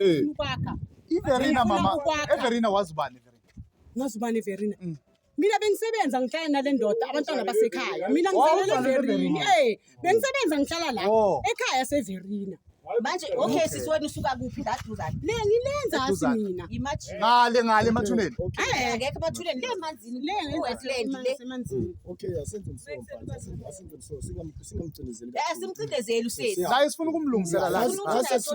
eh. ukwakha iverina mama everina wazi ubani ngazi ubani everina mm. mina bengisebenza ngihlala nale ndoda abantwana basekhaya mina ngizalele everina eh bengisebenza ngihlala la oh. ekhaya severina manje okay sisi wena usuka kuphi la duzane le ngilenzasi mina imagine ngale ngale emathuneni eh akekho emathuneni le manzini le ngizosebenza semanzini okay asenze umsomba simcindezeli usesi la sifuna ukumlungisela la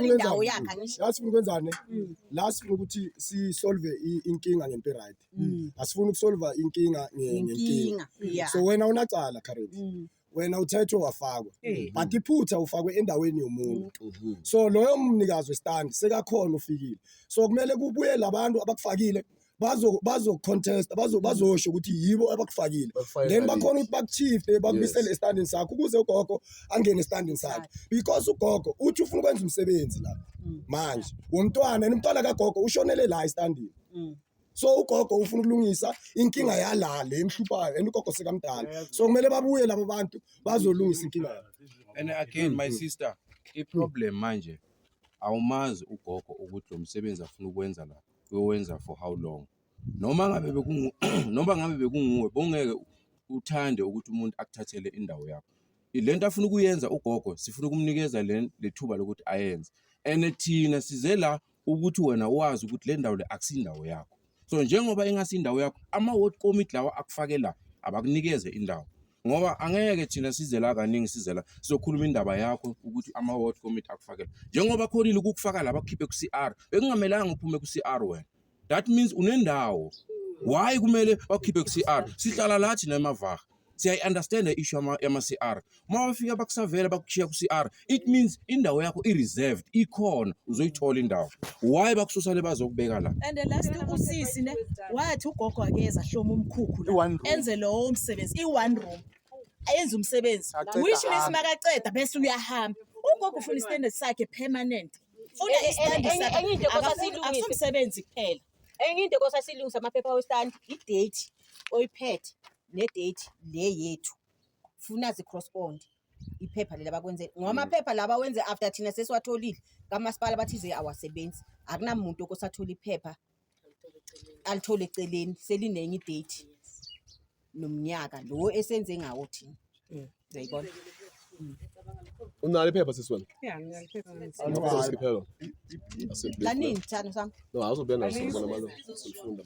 indawo yakhe angisho la sifuna ukwenzane mm. la sifuna ukuthi si solve inkinga ngento right mm. asifuna ukusolve inkinga ngenkinga so wena unacala current mm. wena uthethwe wafakwa but iphutha ufakwe endaweni yomuntu mm-hmm. so loyo mnikazi westand sekakhona ufikile so kumele kubuye labantu abakufakile bazo bazo contest bazo bazosho ukuthi yibo abakufakile then bakhona ukuthi bakuchiefte bakubisele estandini sakho ukuze ugogo angene estandini sakhe because ugogo uthi ufuna ukwenza umsebenzi la mm. manje womntwana and umntwana kagogo ushonele la estandini mm. so ugogo ufuna ukulungisa inkinga yala le emhluphayo and ugogo sekamdala so kumele babuye labo bantu bazolungisa inkinga yabo and again my sister i problem manje awumazi ugogo ukuthi lo msebenzi afuna ukwenza lapha bewenza for how long noma ngabe bekungu noma ngabe bekunguwe bongeke uthande ukuthi umuntu akuthathele indawo yakho le nto afuna ukuyenza ugogo sifuna ukumnikeza le lethuba lokuthi ayenze and thina size la ukuthi wena wazi ukuthi le ndawo le akusindawo yakho so njengoba ingasi indawo yakho ama-ward committee lawa akufake la abakunikeze indawo ngoba angeke thina size la kaningi size la sizokhuluma indaba yakho ukuthi ama-ward committee akufakele njengoba khonile ukukufaka la bakukhiphe ku-c r bekungamelanga uphume ku-c r wena that means unendawo why kumele bakukhiphe ku-c r sihlala la thina emavaha siyayi-understanda i-issue yama-c r uma bafika bakusavela bakushiya ku-c r it means indawo yakho i-reserved ikhona uzoyithola indawo why bakususa le bazokubeka la and the last usisi ne wathi ugogo akeza hloma umkhukhu la. I-one room. enze lowo msebenzi i-one room ayenze umsebenzi Aqeda which means ahambe. makaqeda bese uyahamba ugogo ufuna istandard sakhe permanent funa Enye- istandard enye- sakhe enye into Akafuni- kwasasilungisa. akusumsebenzi kuphela enye into kosa silungisa amaphepha westand idate oyiphethe nedate le yethu funa zi-correspond iphepha leli abakwenze ngoba amaphepha laba wenze after thina sesiwatholile kamasipala bathize awasebenzi akunamuntu okosathola iphepha alithole eceleni selinenye idate nomnyaka lo esenze ngawo thina Mm. uyayibona unalo iphepha sisi wena Yeah, ngiyalipheka ngensimbi. Awunayo. Awunayo. Awunayo. kanini thando sami No, awuzobuya naso Ayikho. ngibona manje. Silifunda.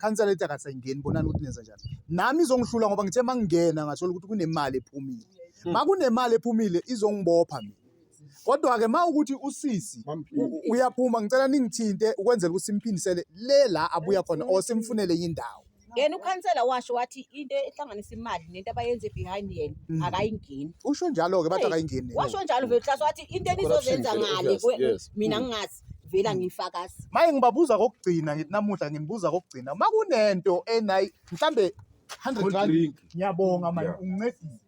khansela ethi akasayingeni bonani ukuthi nenza njani nami izongihlula ngoba ngithe uma ngingena ngathola ukuthi kunemali ephumile ma hmm. kunemali ephumile izongibopha mina kodwa-ke ma ukuthi usisi uyaphuma ngicela ningithinte ukwenzela ukuthi simphindisele le la abuya khona or simfunele indawo yena ukhansela washo wathi into ehlanganisa imali nento abayenze behind yena mm. akayingeni usho njalo-ke bathi akayingeni washo njalo vele hlasi wathi into enizozenza ngale mina ngingazi vela hmm. ngiyifakazi maye ngibabuza kokugcina ngithi namuhla nginibuza kokugcina uma kunento enayi mhlambe 100 rand ngiyabonga manje ungincedile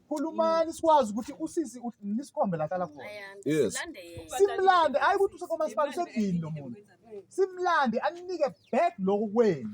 khulumani sikwazi ukuthi usisi nisikhombe la hlala khona yes simlande hayi ukuthi usekomasipala usedini lo muntu simlande aninike back lokho kwenu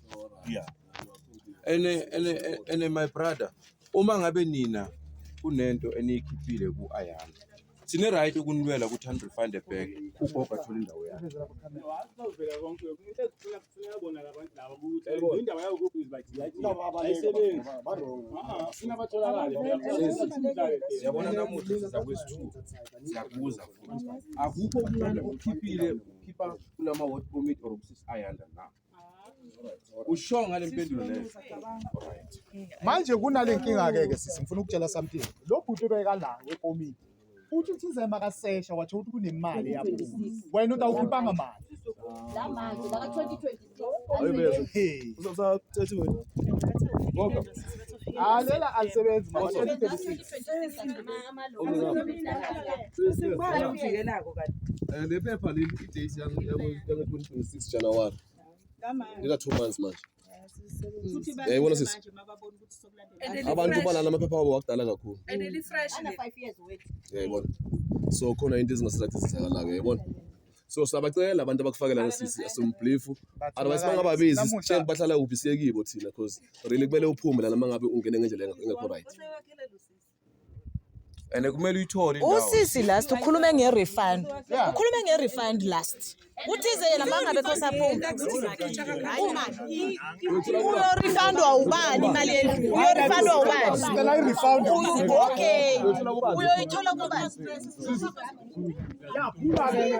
yeah and and and my brother uma ngabe nina kunento eniyikhiphile ku ayami sine right ukunilwela ukuthi hand find a bag ugogo athole indawo yakhe siyabona namuhla siza kwesithuba siyakubuza futhi akukho umuntu okhiphile ukhipha kulama word permit or ukusisi ayanda na usho ngale mpendulo leyo manje kunale nkinga ke ke sisi ngifuna ukutshela something lo bhuti obeka la wekomini uthi uthize makasesha watho ukuthi kunemali yabo wena utawukhiphanga mali la manje la 2022 hey uzothatha 30 wena ngoba alela alisebenzi manje Eh, le phepha leli i-date yange-2026 January ndika two months manje yayibona sisi abantu balala amaphepha wabo wakudala kakhulu yayibona so khona into ezingasizakthi zizakalayo yayibona so siyabacela abantu abakufakela nosisi asimblifu otherwise bangababizi sitshele bahlala kuphi siyekibo thina because really kumele uphume lana mangabe ungene ngendlela engekho right and kumele uyithole indawo. usisi last ukhulume nge-refund Yeah. ukhulume nge-refund last uthize yena mangabe khosaphuma uyorifandwa ubani imali yendlu uyorifandwa ubani Sicela i-refund. Uyo- okay uyoyithola kubani Yaphula ke.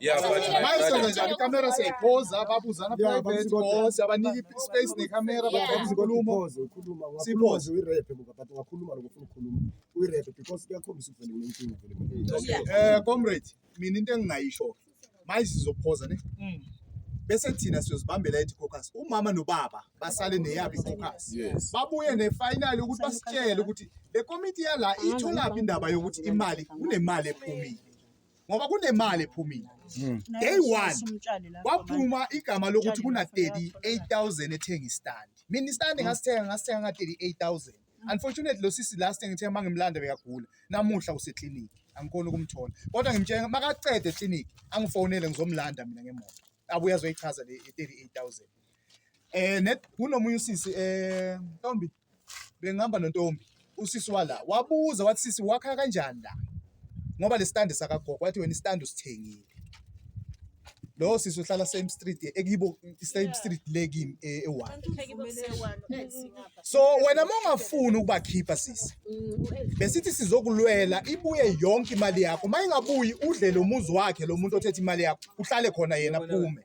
Yeah, but my Mayisenza brother, njani ikamera siyayiphoza babuzana Yeah, private babuzana. or siyabanika space nekamera Yeah. bakwazi inkulumo Pause, ukhuluma ungakhuluma Siphoze. nje uyirepe buka but ungakhuluma lokho ufuna ukukhuluma uyirepe because kuyakhombisa ukuvele unenkinga vele manje. um comrade mina into engingayisho manje sizophoza ne bese thina siyozibambela ithi cocus umama nobaba basale neyabo icocus Yes. babuye nefinali ukuthi basitshele ukuthi le komiti yala itholaphi indaba yokuthi imali kunemali ephumile ngoba kunemali ephumile hmm. day one kwaphuma igama lokuthi kuna-38000 ethenga istandi mina istandi hmm. ngasithenga ngasithenga nga-38000 hmm. unfortunately lo sisi last engithenga uma ngimlanda bekagula namuhla useklinikhi angikhoni ukumthola kodwa ngimtshela makacede eklinikhi angifonele ngizomlanda mina ngemoto abuye azoyichaza le 38000 eh net kunomunye usisi eh Ntombi bengihamba nontombi usisi wala wabuza wathi sisi wakha kanjani la ngoba lesitandi sakagogo wathi wena isitandi usithengile lowo sisi uhlala same street ekibo same street le kimi e- ewa so wena mongafuni ukubakhipha sisi besithi sizokulwela ibuye yonke imali yakho mayingabuyi udle lo muzi wakhe lo muntu othethe imali yakho uhlale khona yena phume